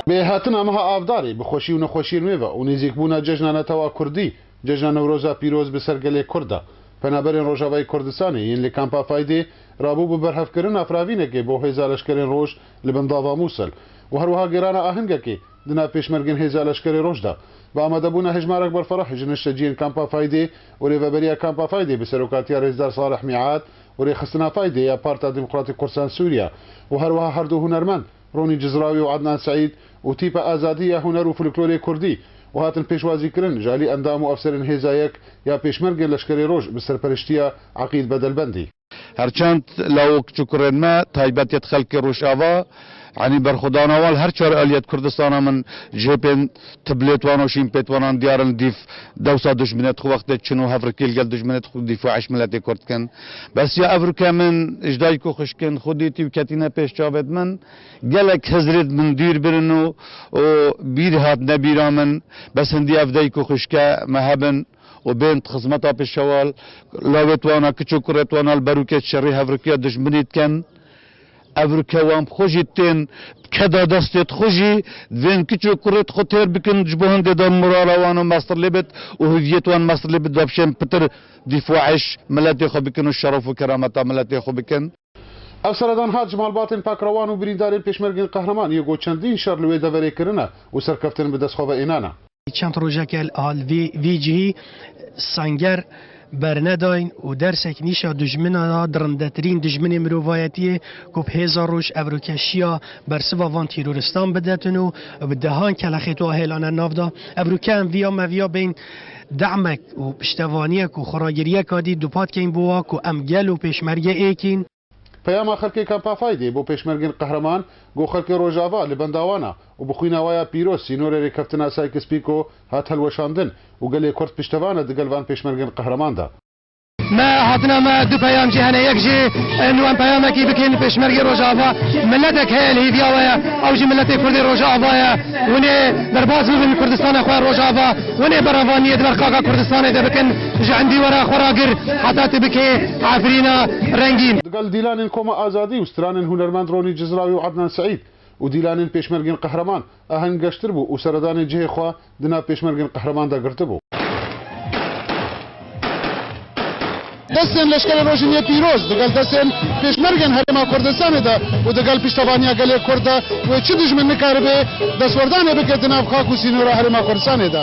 Bi hatina meha Avdarê, bi xweşî û nexweşî rmê ve û nêzîkbûna cejna netewa kurdî, Cejna Newroza pîroz bi ser gelê kurd de. Penaberên Rojavayê Kurdistanê yên li Kampa Faydê rabû bi berhevkirina firavînekê bo Hêza Leşkerên Roj li bin Dava Mûsil û herwiha gêrana ahingekê di nav pêşmergên Hêza Leşkerê Roj de. Bi amadebûna hejmarek berferah ji nişteciyên Kampa Faydê û rêveberiya Kampa Faydê bi serokatiya Rêzdar Salih Mîad û Rêxistina Taydê ya Parta Demokratîk Kursan Sûriye û her wiha her du hunermend Ronî Cizrawî û Ednan Seîd û Tîpa Azadî ya Huner û Foliklorê Kurdî û hatin pêşwazîkirin ji alî endam û efserên Hêza Yek ya Pêşmergên Leşkerê Roj bi serperiştiya Eqîd Bedelbendî. Her çend lawok çukurên me taybet yê di xelkê Rojava. Enî berxwedana wan her çar alî ya di Kurdistana min jêpên tiblêt wan û şînpêt wanan diyar in dîf dewsa dujminê di xwe wextê çin û hevrekî li gel dujminê di xwe dîf û eş miletê kurd dikin. Besiya ev rûke min ji dayik û xişkin xwe dîtî û ketîne pêş çavê di min. Gelek hizirê di min dûr birin û û bîr hatine bîra min bes hindî ev dayik û xişke me hebin û bên di xizmeta pêşewal, lawêt wana, kiç û kurêt wana li ber û kêç şerî hevrekiya dujminî dikin. Ev rûkewan bi xwe jî tên keda destê di xwe jî divên kiç û kurê di xwe têr bikin ji bo hingê de morala wan û mesrlê bit û hûviyet wan mesrlê bit bapişên pitir dîfaiş miletê xwe bikin û şeref û kerameta miletê xwe bikin. Ev seredan hat ji malbatên pakrewan û birîndarên pêşmergên qehreman yê go çendîn şer li wê deverê kirine û serkeftin bi destxwe ve ênane. Çend rojeke al vî cihî senger bernedayn û dersek nîşa dijminan a, dirindetirîn dijminê mirovayetiyê ku bi hêza roj evrokeşiya bersiva van tîroristan bidetin û bi dehan kelexêto a hêlane navda. Ev rûke em viya me viya bên demek û piştevaniyek û xweragiriyek a dî dupat keyn bo wa ku em gel û pêşmerge êkîn. Peyama xelkê Kampa Faydê bo pêşmergên qehreman go xelkê Rojava li benda wan a û bi xwîna we ya pîroz sînorê rêkeftina Sykes-Pîko hat hilweşandin û gelê Kurd piştevan e digel van pêşmergên qehreman de. Me hatina me du peyam jî hene yek jî nu em peyamekî bikên li pêşmergê Rojava miletek heye li hêviya we ye ew jî miletê Kurdê Rojava ye hûnê derbas bibin Kurdistana xwe Rojava hûnê berevaniyê di ber xaka Kurdistanê de bikin Ji endî were xwe ragir heta tu bikê Efrîna rengîn. Di gel dîlanên Koma Azadî û stranên hunermend Ronî Cizrawî û Ednan Seîd û dîlanên pêşmergên qehreman, Aheng geştir bû û seredanê cihê xwe di nav pêşmergên qehreman de girtibû. Destên leşkerê rojên yê pîroz di gel destên pêşmergên Herêma Kurdistanê de û di gel piştevaniya gelê Kurd de wê çi dijmin nikaribê destwerdanê bike di nav xak û sînora Herêma Kurdistanê de.